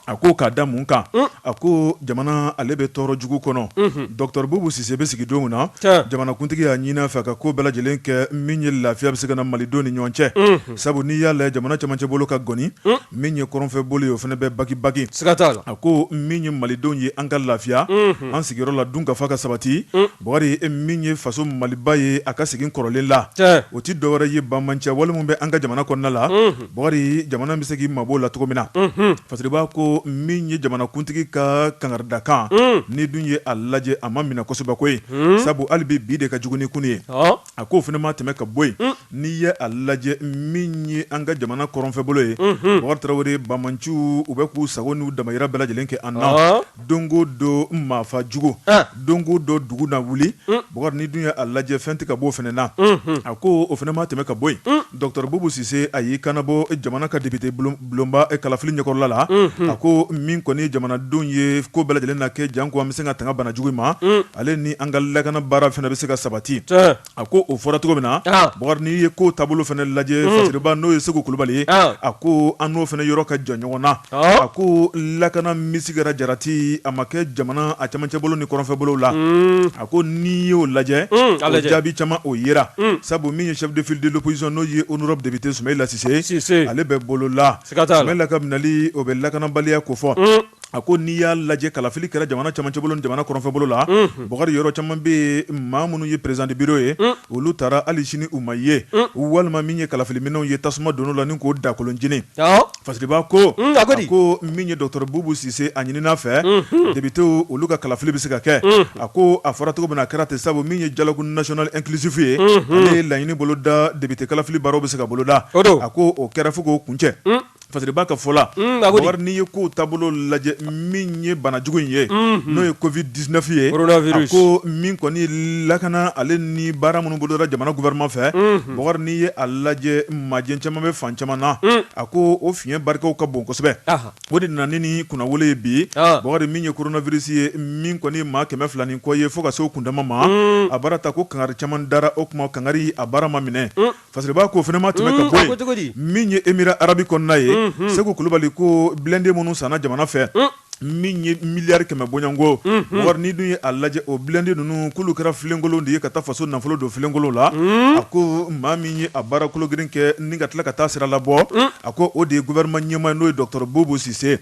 a ko k'a da mun kan a ko jamana ale bɛ tɔɔrɔ jugu kɔnɔ dɔgɔtɔrɔ bubu sise bɛ sigi don min na jamanakuntigi y'a ɲini a fɛ ka ko bɛɛ lajɛlen kɛ min ye lafiya bɛ se ka na malidenw ni ɲɔgɔn cɛ sabu n'i y'a lajɛ jamana camancɛ bolo ka gɔni min ye kɔrɔnfɛ bolo ye o fana bɛ baki baki a ko min ye malidenw ye an ka lafiya an sigiyɔrɔ la dun ka fa ka sabati Bɔkari e min ye faso maliba ye a ka segin kɔrɔlen la o tɛ dɔwɛrɛ ye bamanci wale min bɛ an ka jamana kɔnɔna la Bɔkari jamana bɛ se k'i mabɔ o la cogo min na fasiriba ko min ye jamanakuntigi ka kangarida kan n'i dun ye a lajɛ a ma minɛ kosɛbɛ ko ye sabu hali bi bi de ka jugu ni kunun ye A ko o fana ma tɛmɛ ka bɔ yen n'i ye a lajɛ min ye an ka jamana kɔrɔnfɛ bolo ye Bɔkari tarawele bamanciw u bɛ k'u sago n'u damayira bɛɛ lajɛlen kɛ an na don ko don maafa jugu don ko don dugu na wuli Bɔkari n'i dun ye a lajɛ fɛn tɛ ka bɔ o fana na a ko o fana ma tɛmɛ ka bɔ yen Docteur Boubou Sise a y'i kanabɔ jamana ka député bulonba kalafili ɲɛkɔrɔla la, unhun, a ko min kɔni ye jamanadenw ye ko bɛɛ lajɛlen na kɛ janko an bɛ se ka tanga bana jugu in ma, un, ale ni an ka lakana baara fana bɛ se ka sabati, tiɲɛ, a ko o fɔra cogo min na, an, Bɔkari n'i ye kow taabolo fana lajɛ, un, Fasiriba n'o ye Seku Kulubali ye, an, a ko an n'o fana yɔrɔ ka jan ɲɔgɔn na A ko lakana misikara jarati a ma kɛ jamana a camancɛ bolo ni kɔrɔnfɛ bolo la a ko n'i y'o lajɛ o jaabi caman o yera sabu min ye chef de file de l'opposition n'o ye honorable député Sumayila Sise ale bɛ bolola Sumayila ka minɛli o bɛ lakanabaliya kofɔ a ko n'i y'a lajɛ kalafili kɛra jamana camancɛ bolo ni jamana kɔrɔnfɛ bolo la Bɔkari yɔrɔ caman bɛ yen maa minnu ye président de bureau ye olu taara ali sini u ma ye walima min ye kalafili minɛnw ye tasuma donn'o la ni k'o dakolon jeni Fasiriba ko ko min ye dɔgɔtɔrɔ bubu sise a ɲinina a fɛ député olu ka kalafili bɛ se ka kɛ a ko a fɔra cogo min na a kɛra ten sabu min ye dialogue national inclusif ye ale ye laɲini boloda député kalafili baaraw bɛ se ka boloda a ko o kɛra fo k'o kuncɛ fasiriba ka fɔ la n'i ye kow taabolo lajɛ min ye banajugu in ye n'o ye covid dix-neuf ye a ko min kɔni lakana ale ni baara minnu bolodara jamana gouvernement fɛ Bɔkari n'i ye a lajɛ majɛ caman bɛ fan caman na a ko o fiɲɛ barikaw ka bon kosɛbɛ o de nana ni kunnawolo ye bi Bɔkari min ye coronavirus ye min kɔni maa kɛmɛ fila ni kɔ ye fo ka se o kundama ma a baara ta ko kangari caman dara o kuma kangari a baara ma minɛ fasiriba ko o fana ma tɛmɛ ka bɔ min ye Émirats arabes kɔnɔna ye seku kulubali ko blindé minnu sanna jamana fɛ min ye miliyari kɛmɛ bɔɲɔgɔnko Bɔkari n'i dun ye a lajɛ o blindé ninnu k'olu kɛra filenkolon de ye ka taa faso nafolo don filenkolon la a ko maa min ye a baara kolo girin kɛ ni ka tila ka taa sira labɔ a ko o de ye gouvernement ɲɛmaa n'o ye dɔgɔtɔrɔ bubu sise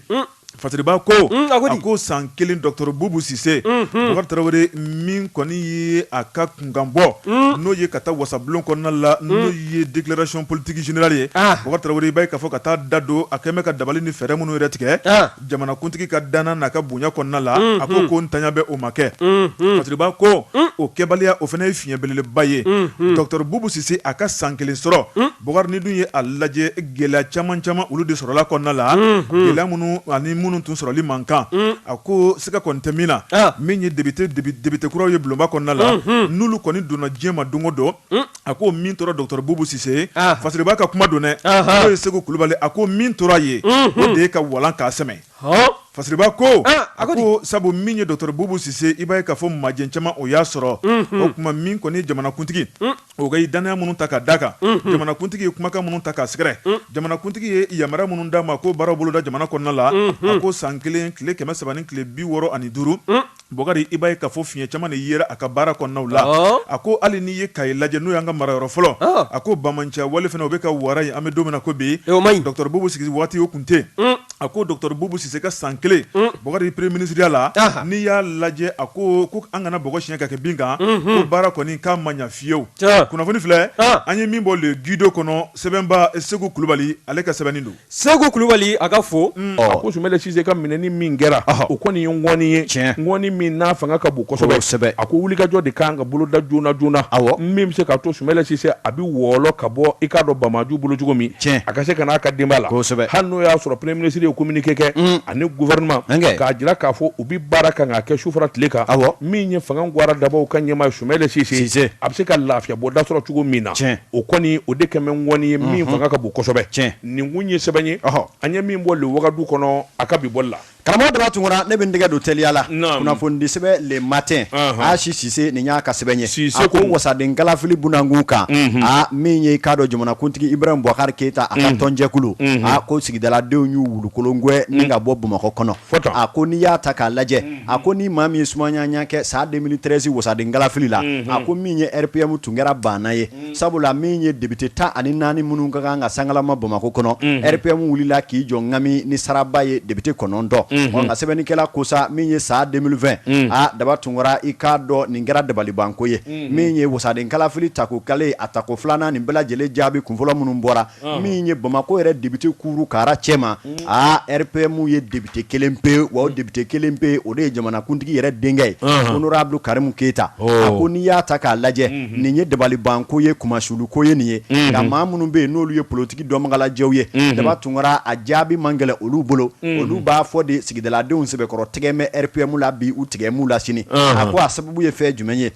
fasiriba ko a ko san kelen dɔgɔtɔrɔ bubu sise Bɔkari tarawele min kɔni ye a ka kunkanbɔ n'o ye ka taa wasabulon kɔnɔna la n'o ye déclaration politique générale ye Bɔkari tarawele i b'a ye k'a fɔ ka taa da don a kɛlen bɛ ka dabali ni fɛɛrɛ minnu yɛrɛ tigɛ jamanakuntigi ka danna n'a ka bonya kɔnɔna la a ko ko ntanya bɛ o ma kɛ Fasiriba ko o kɛbaliya o fana ye fiɲɛ belebeleba ye docteur Boubou Sise a ka san kelen sɔrɔ Bɔkari n'i dun ye a lajɛ gɛlɛya caman caman olu de sɔrɔla kɔnɔna la gɛlɛya minnu ani minnu tun sɔrɔli man kan a ko Siga kɔni tɛ min na, an, min ye député député kuraw ye bulonba kɔnɔna la, unhun, n'olu kɔni donna diɲɛ ma don o don, un, a ko min tora docteur Boubou Sise ye, an, fasiriba ka kuma don dɛ, anhan, n'o ye Seku kulubali a ko min tora a ye, unhun, o de ye ka walan k'a sɛmɛ, ɔɔ, fasiriba ko, an, a ko di, a ko sabu min ye docteur Boubou Sise i b'a ye k'a fɔ majɛ caman o y'a sɔrɔ, unhun, o kuma min kɔni ye jamanakuntigi, un o ka dannaya minnu ta ka da kan jamanakuntigi ye kumakan minnu ta k'a sɛgɛrɛ jamanakuntigi ye yamaruya minnu d'a ma ko baaraw boloda jamana kɔnɔna la a ko san kelen tile kɛmɛ saba ni tile bi wɔɔrɔ ani duuru Bɔkari i b'a ye k'a fɔ fiɲɛ caman de yera a ka baara kɔnɔnadaw la a ko hali n'i ye Kayi lajɛ n'o y'an ka marayɔrɔ fɔlɔ a ko banbaanciya wale fana o bɛ ka wara yen an bɛ don min na ko bi docteur Boubou sigi waati o kun tɛ a ko docteur Boubou Sise ka san kelen Bɔkari premier minisiriya la n'i y'a lajɛ a ko k'an kana bɔgɔ siɲɛ ka kɛ bin kan ko baara kɔni k'a ma ɲa fiyewu kunnafoni filɛ an ye min bɔ Le Guido kɔnɔ sɛbɛnba segu kulubali ale ka sɛbɛnni don segu kulubali a ka fo a ko Sumayila Sise ka minɛni min kɛra o kɔni ye ŋɔni ye tiɲɛ ŋɔni min n'a fanga ka bon kosɛbɛ a ko wulikajɔ de ka kan ka boloda joona joona min bɛ se ka to Sumayila Sise a bɛ wɔlɔ ka bɔ i k'a dɔn banbaanciw bolo cogo min tiɲɛ a ka se ka n'a ka denbaya la kosɛbɛ hali n'o y'a sɔrɔ premier ministre ye communiqué kɛ mm. ani gouvernement k'a jira k'a fɔ u bɛ baara kan k'a kɛ su fara tile kan awɔ min ye fanga gwara dabaw ka ɲɛmaa Sumayila Sise a bɛ se ka lafiya bɔ da sɔrɔ cogo min na tiɲɛ o kɔni o de kɛn bɛ ŋɔni ye min fanga ka bon kosɛbɛ tiɲɛ nin kun ye sɛbɛn ye an ye min bɔ le Wagadu kɔnɔ a ka bi bɔli la Karamɔgɔ Daba Tunkara ne bɛ n tɛgɛ don teliya la kunnafoni sɛbɛn Le Matin Asi Sise nin y'a ka sɛbɛn ye a ko wasadenkalafili bunakun kan aa min ye k'a dɔn jamanakuntigi Ibrahim Boubacar Keyita a ka tɔnjɛkulu a ko sigidaladenw y'u wulukolongwɛn ni ka bɔ bamakɔ kɔnɔ a ko n'i y'a ta k'a lajɛ a ko ni maa min ye sumaya ɲɛ kɛ san 2013 wasadenkalafili la a ko min ye RPM tun kɛra baana ye sabula min ye député 14 minnu ka kan ka sankalaman Bamakɔ kɔnɔ, unhun, RPM wulila k'i jɔ ŋami ni saraba ye député 9, unhun, ɔ nka sɛbɛnnikɛla ko sa min ye san 2020, unhun, aa daba tunkara i k'a dɔn nin kɛra dabalibanko ye, unhun, min ye wasadenkalafili tako kale a tako filanan nin bɛɛ lajɛlen jaabi kunfɔlɔ minnu bɔra min ye bamakɔ yɛrɛ député kuru kara cɛ ma aa RPM ye député kelen pe wa député kelen pe o de ye jamanakuntigi yɛrɛ denkɛ ye honorable Karimu Keyita a ko n'i y'a ta k'a lajɛ nin ye dabalibanko ye kunmasuluko ye nin ye nka maa minnu bɛ yen n'olu ye politigi dɔnbagalajɛw ye daba tunkara a jaabi man gɛlɛn olu bolo olu b'a fɔ de sigidaladenw sɛbɛkɔrɔ tigɛn bɛ RPM la bi u tigɛn b'u la sini a ko a sababu ye fɛn jumɛn ye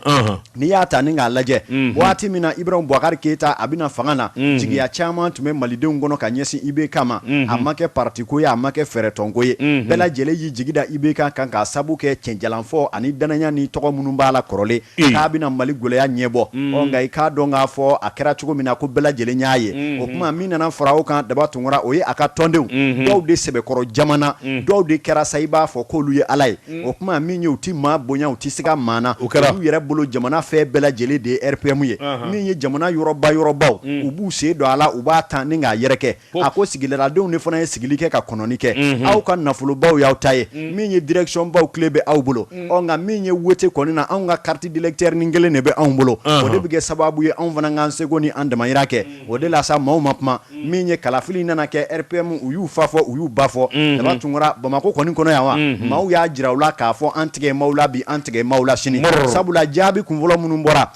N'i y'a ta ni k'a lajɛ waati min na ibrahim bubakar keyita a bɛna fanga na jigiya caman tun bɛ malidenw kɔnɔ ka ɲɛsin IBK ma a ma kɛ patiko ye a ma kɛ fɛɛrɛtɔnko ye bɛɛ lajɛlen y'i jigi da IBK kan k'a sabu kɛ cɛnjalanfɔ ani dannaya ni tɔgɔ minnu b'a la kɔrɔlen k'a bɛna mali gɛlɛya ɲɛbɔ nka i k'a dɔn k'a fɔ a kɛra cogo min na ko bɛɛ lajɛlen y'a ye o kuma min nana fara o kan daba tunkara o ye a ka tɔndenw dɔw de sɛbɛkɔrɔ jamana dɔw de kɛra sa i b'a fɔ k'olu ye ala ye o kuma min ye u tɛ maa bonya u tɛ se ka maa na, o kɛra, u yɛrɛ bolo jamana fɛn bɛɛ lajɛlen de ye RPM ye, anhan, min ye jamana yɔrɔba yɔrɔbaw, un, u b'u sen don a la u b'a ta ni k'a yɛrɛkɛ, ko, a ko sigidaladenw de fana ye sigili kɛ ka kɔnɔni kɛ, unhun, aw ka nafolobaw y'aw ta ye, un, min ye direction baw kile bɛ aw bolo, un, ɔ nka min ye wote kɔni na anw ka carte d'électeur ni kelen de bɛ anw bolo, anhan, o de bɛ kɛ sababu ye anw fana k'an seko ni an damayira kɛ o de la sa maaw ma kuma min ye kalafili nana kɛ RPM u y'u fa fɔ u y'u ba fɔ daba tunkara bamakɔ kɔni kɔnɔ yan wa maaw y'a jira u la k'a fɔ an tigɛ maaw la bi an tigɛ maaw la sini sabula jaabi kunfɔlɔ minnu bɔra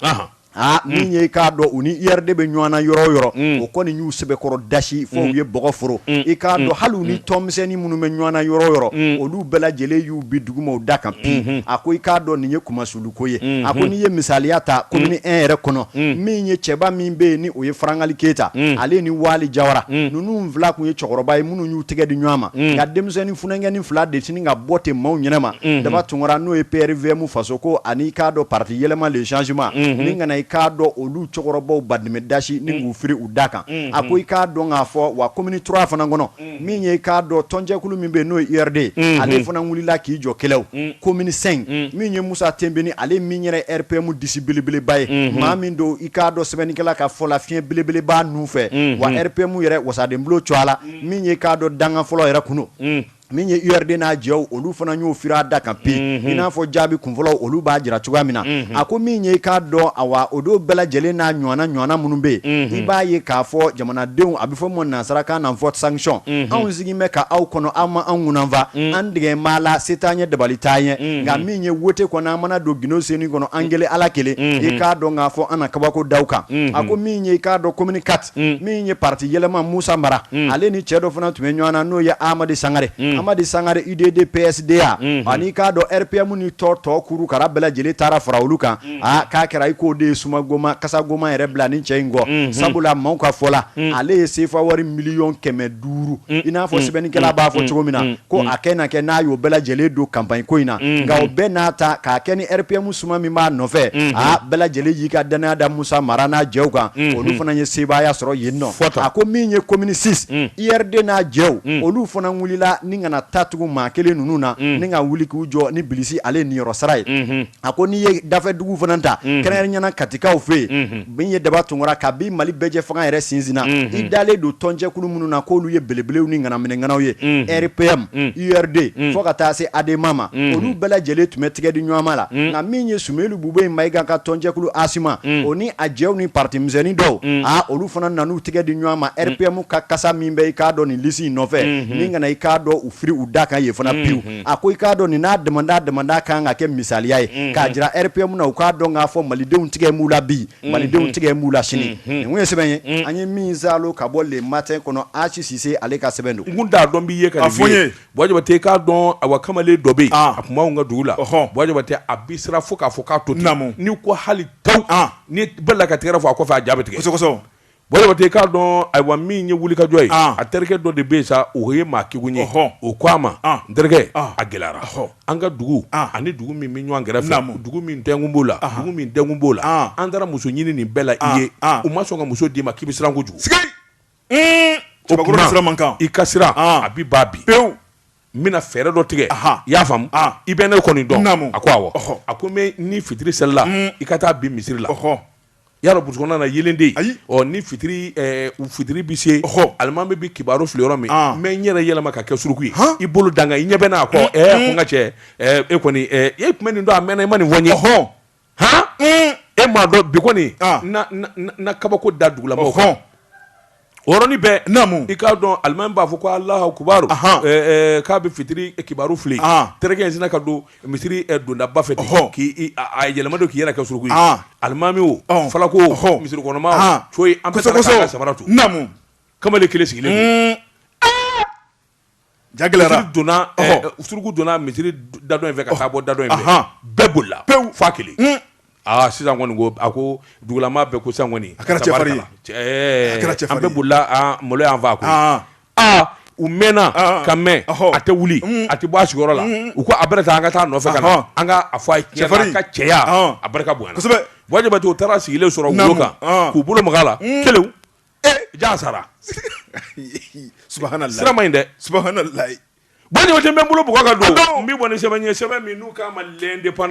aa min ye i k'a dɔn u ni URD bɛ ɲɔgɔn na yɔrɔ o yɔrɔ o kɔni y'u sɛbɛkɔrɔ dasi fo u ye bɔgɔ foro i k'a dɔn hali u ni tɔnmisɛnnin minnu bɛ ɲɔgɔn na yɔrɔ o yɔrɔ olu bɛɛ lajɛlen y'u bin duguma u da kan pi a ko i k'a dɔn nin ye kuma so ko ye a ko n'i ye misaliya ta commune un yɛrɛ kɔnɔ min ye cɛba min bɛ yen ni o ye farangali keyita ale ni wali jawara ninnu fila kun ye cɛkɔrɔba ye minnu y'u tɛgɛ di ɲɔgɔn ma nka denmisɛnnin funankɛnin fila de sini ka bɔ ten maaw ɲɛnama daba tunkara n'o ye PRVM faso ko ani i k'a dɔn pati yɛlɛma le changement ni kana i k'a dɔn olu cɛkɔrɔbaw ba dɛmɛ dasi ni k'u firi u da kan a ko i k'a dɔn k'a fɔ wa commune trois fana kɔnɔ min ye i k'a dɔn tɔnjɛkulu min bɛ yen n'o ye URD ale fana wulila k'i jɔ kɛlɛw commune cinq min ye musa tenbine ale min yɛrɛ RPM disi belebeleba ye maa min don i k'a dɔn sɛbɛnnikɛla ka fɔ la fiɲɛ belebeleba ninnu fɛ wa RPM yɛrɛ wasadenbulon cogoya la min ye i k'a dɔn dankan fɔlɔ yɛrɛ kunun min ye URD n'a jɛw olu fana y'o firi a da kan pe i n'a fɔ jaabi kunfɔlɔ olu b'a jira cogoya min na a ko min ye k'a dɔn awa o don bɛɛ lajɛlen n'a ɲɔgɔnna minnu bɛ yen i b'a ye k'a fɔ jamanadenw a bɛ fɔ min nansarakan na vote sanction anw sigi bɛ ka aw kɔnɔ aw ma an kunan fa an tigɛ maa la se t'an ye dabali t'an ye nka min ye wote kɔnɔ an mana don gundosonin kɔnɔ an kelen ala kelen i k'a dɔn k'a fɔ an na kabako da aw kan a ko min ye i k'a dɔn commune quatre min ye pati yɛlɛma musa mara ale ni cɛ dɔ fana tun bɛ ɲɔgɔn na n'o ye amadi sangare amadi sangare UDD PSDA ani i k'a dɔn RPM ni tɔ tɔ kuru kara bɛɛ lajɛlen taara fara olu kan aa k'a kɛra i k'o de ye suma goma kasa goma yɛrɛ bila ni cɛ in kɔ mm-hmm. sabula maaw ka fɔ la mm. ale ye sefa wari miliyɔn kɛmɛ duuru mm. i n'a fɔ mm. sɛbɛnnikɛla b'a fɔ cogo min na ko a kɛ na kɛ n'a y'o bɛɛ lajɛlen don kanpaɲi ko in na mm-hmm. nka o bɛɛ n'a ta k'a kɛ ni rpm suma min b'a nɔfɛ mm-hmm. a bɛɛ lajɛlen y'i ka dannaya da musa mara n'a jɛw kan olu fana ye sebaaya sɔrɔ yen nɔ a ko min ye commune six URD n'a jɛw olu fana wulila ni kana taa tugun maa kelen ninnu na ni ka wuli k'u jɔ ni bilisi ale ye niyɔrɔ sara ye a ko n'i ye dafɛdugu fana ta mhm. kɛrɛnkɛrɛnnenya la katikaw fɛ yen mhm. min ye daba tunkara ka bi mali bɛɛjɛ fanga yɛrɛ sinsinna mhm. i dalen don tɔnjɛkulu minnu na k'olu ye belebelew ni ŋanaminɛŋanaw ye rpm urd fo ka taa se adema ma olu bɛɛ lajɛlen tun bɛ tigɛ di ɲɔgɔnma la nka min ye sumeyilu bubɛyi mayiga ka tɔnjɛkulu asima o ni a jɛw ni pati misɛnnin dɔw aa olu fana nan'u tigɛ di ɲɔgɔn ma rpm ka kasa min bɛ i k'a dɔn nin lisi in nɔfɛ min kana i k'a dɔn u firi u da kan yen fana pewu a ko i k'a dɔn nin n'a damanda damanda kan ka kɛ misaliya ye k'a jira rpm na u k'a dɔn k'a fɔ malidenw tigɛ b'u la bi malidenw tigɛ b'u la sini nin ye sɛbɛn ye an ye min zalo ka bɔ le matin kɔnɔ asi sise ale ka sɛbɛn don n t'a dɔn b'i ye ka nin fɔ ye buwa jabatɛ i k'a dɔn a wa kamalen dɔ bɛ yen a tun b'anw ka dugu la buwa jabatɛ a bi siran fo k'a fɔ k'a to ten n'i ko hali tan ni bɛɛ la ka tigɛrɛ fɔ a kɔfɛ a ja bi tigɛ i k'a dɔn ayiwa min ye wulikajɔ ye a terikɛ dɔ de bɛ yen sa o ye maa kegun ye o ko a ma n terikɛ a gɛlɛyara an ka dugu ani dugu min bɛ ɲɔgɔn kɛrɛfɛ dugu min tɛkun b'o la min dɛkun b'o la an taara muso ɲini nin bɛɛ la i ye u ma sɔn ka muso d'i ma k'i bɛ siran kojugu o kama i ka siran a bɛ ban bi pewu n bɛna fɛɛrɛ dɔ tigɛ i y'a faamu i bɛ ne kɔni dɔn a ko a ko ni fitiri selila i ka taa bin misiri la Y'a dɔn brousse kɔnɔna na yeelen tɛ yen. Ayi ɔ ni fitiri ɛɛ u fitiri bi se ɔhɔ alimami bi kibaru fili yɔrɔ min an n bɛ n yɛrɛ yɛlɛma ka kɛ suruku ye han i bolo da n kan i ɲɛ bɛ n'a kɔ ɛɛ a ko n ka cɛ ɛɛ e kɔni ɛɛ e tun bɛ nin dɔn a mɛɛnna i ma nin fɔ n ye ɔhɔɔ han e m'a dɔn bi kɔni an na kabako da dugulamɔɔw kan ɔhɔɔ O yɔrɔnin bɛɛ namu i k'a dɔn alimami b'a fɔ ko alahu akibaru k'a bɛ fitiri kibaru fili terikɛ in sinna ka don misiri dondaba fɛ hɔn k'i yɛlɛma don k'i yɛrɛ kɛ suruku ye alimami o fana ko o misiri kɔnɔmaa coyi an bɛɛ sabara to namu kamalen kelen sigilen Ja donna suruku donna misiri da in fɛ ka bɔ da in fɛ bɛɛ bolila pewu f'a kelen aaa sisan kɔni a ko dugulamaa bɛɛ ko sisan kɔni a kɛra cɛfarin an bɛɛ bolila malo y'an faa a aa u mɛnna ka mɛn a tɛ wuli a tɛ bɔ a sigiyɔrɔ la u ko a bɛ taa an ka taa nɔfɛ ka na an k'a fɔ a ye tiɲɛ ka cɛya a barika bonyana kosɛbɛ buwa jabatɛ u taara a sigilen sɔrɔ wolo kan k'u bolo maga a la kelen jaa sara sirama in dɛ bɛ bolo b ka don n bɛ bɔ sɛbɛn ɲɛ sɛbɛn min n'u k'a ma lɛn de pan